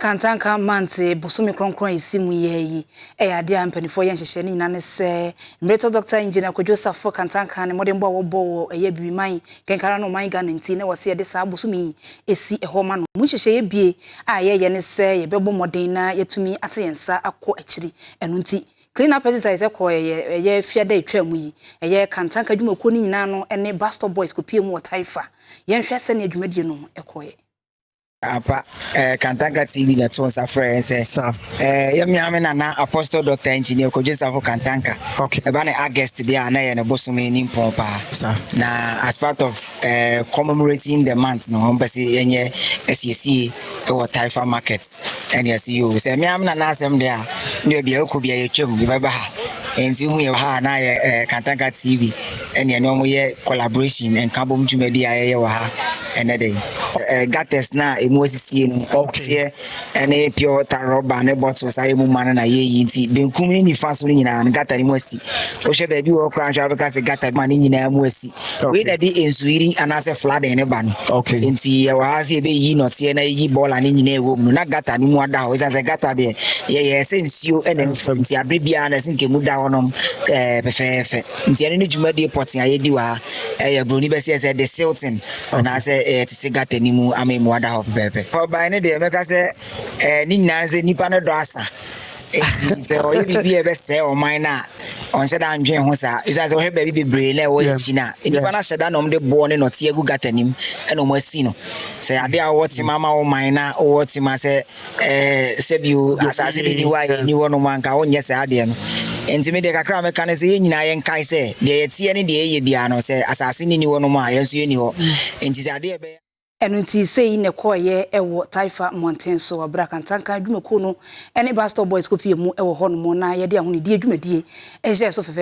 Kantanka Mantse bosome krɔnkrɔn a esi mu yɛ yi yɛ ade a mpaninfoɔ yɛ nhyehyɛɛ ne nyinaa ne sɛ mmeretɔ Dɔkta Engineer Kwadwo Safo Kantanka ne mmɔdenbɔ a wɔbɔ wɔ ɛyɛ Biriman Kɛnkara ne ɔman Ghana nti na wɔse yɛde saa bosome yi esi hɔ ma no. Mu nhyehyɛeɛ bie a yɛyɛ ne sɛ yɛbɛbɔ mmɔden na yɛatumi ate yɛn nsa akɔ akyiri ɛno nti Clean up exercise ɛkɔ ɛyɛ ɛyɛ fiada a ɛtwaa mu yi ɛyɛ Kantanka adwumakuo no nyinaa no ne Bus Stop Boys kɔpie mu wɔ Taifa. Yɛnhwɛ sɛdeɛ dwumadie no kɔeɛ. Apa eh, Kantanka TV na ɛto nsa frɛ yɛn sɛ eh, yɛ mmea me nana Apostle Dr. Engineer Kojo Safo Kantanka ɛba ne August bi a na yɛ ne bosom ani mpɔn paa na as part of eh, commemorating the month no wɔn pɛ sɛ yɛnyɛ asiesie wɔ Taifa market ɛne ɛso yi o sɛ mmea me nana asɛm deɛ a ne bia ɛkɔ bia yɛtwam yɛbɛba ha nti hu yɛ ha na yɛ eh, Kantanka TV Ɛneɛ ne ɔmo yɛ collaboration, nkabom dwumadie a yɛyɛ wɔ ha ɛnɛ da yi. Eh, gutters no a emu asisie no, ɔseɛ ɛne pure water rubber ne bottles a yɛmu ma no na yɛyi nti benkum ne nifa so no nyinaa no gutter no mu asi. Wohwɛ baabi wɔ hɔ koraa nhwɛ wobɛka sɛ gutter ma ne nyinaa mu asi. Wei na de nsuyiri anaasɛ flooding no ba no. Nti yɛwɔ ha sɛ yɛbɛyi nɔteɛ na yɛyi bɔɔla no nyinaa ɛwɔ mu no na gutter no mu ada hɔ ɛsiane sɛ gutter deɛ yɛyɛ sɛ nsuo ɛna ɛmfam nti aberɛ biara no ɛsɛ nka emu da hɔnom eh, pɛfɛɛfɛ. Nteɛne no dwumadie pɔtee a yɛdi wɔ ha yɛ, buroni bɛseɛ sɛ de silton anaasɛ ɛyɛ te se gutter no mu amemmoa da hɔ pɛpɛɛpɛ. Forbae no deɛ mɛka sɛ ne nyinaa ne sɛ nnipa no dɔ asa nti sɛ ɔyɛ biribi a ɛbɛsɛe ɔman no a ɔnhyɛ da ndwen ho saa ɛsiane sɛ wohwɛ baabi bebree na ɛwɔ yɛn akyi no a nnipa no ahyɛ da na wɔde boɔ ne nɔteɛ agu gutter no mu ɛna wɔasi no sɛ adeɛ a wowɔ tema ma wo man na wowɔ tema sɛ sɛ bio asase bi nni hɔ a yɛn nni hɔnom a, anka wonyɛ saa adeɛ no. Enti me deɛ kakra a mɛka ne sɛ, yɛn nyinaa yɛnkae sɛ, deɛ yɛteɛ ne deɛ yɛyɛ biara no, sɛ asase no nni hɔnom a, yɛn nso yɛnni hɔ. Enti sɛ adeɛ a ɛbɛyɛ. Ɛno nti sei na ɛkɔeɛ wɔ Taifa mmɔnten so, berɛ a Kantanka adwumakuo no ne Bus Stop Boys kɔpuee mu wɔ hɔnom na yɛde ahonidie dwumadie hyɛɛ so fɛfɛɛfɛ.